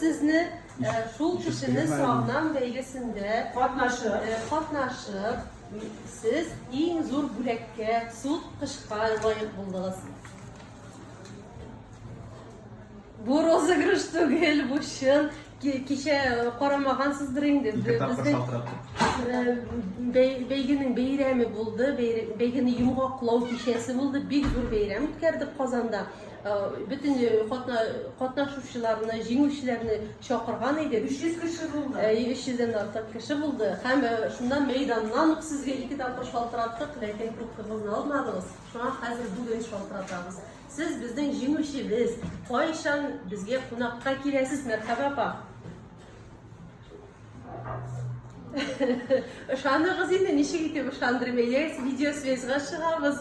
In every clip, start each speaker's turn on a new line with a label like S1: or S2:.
S1: Сезне шул кешене сагынам бәйгесендә катнашып, сез иң зур бүләккә, суд кышка лаек булдыгыз. Бу розыгрыш түгел, бу чын. Кичә карамагансыздыр инде. Бәйгенең бәйрәме булды, бәйгене йомгаклау кичәсе булды. Бик зур бәйрәм үткәрдек Казанда. Бөтен катна, катнашучыларны, җиңүчеләрне чакырган иде. 300 кеше булды. Ә, 300-дән артык кеше булды. Һәм шуннан мәйданнан ук сезгә ике тапкыр шалтыраттык, ләкин трубкагызны алмадыгыз. Шуңа хәзер бүген шалтыратабыз. Сез безнең җиңүчебез. Кайчан безгә кунакка киләсез, Мәрхәбә апа? Ышаныгыз инде, ничек итеп ышандырмыйм, әйдәгез видеосвязьга чыгабыз.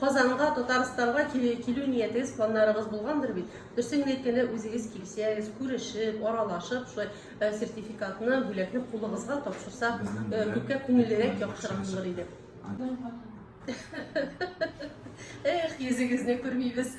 S1: Казанга, Татарстанга килү ниятегез, планнарыгыз булгандыр бит. Дөресен генә әйткәндә, үзегез килсәгез, күрешеп, аралашып, шулай э, сертификатны, бүләкне кулыгызга тапшырсак, э, күпкә күңеллерәк, яхшырак булыр иде. Эх, йөзегезне күрмибез.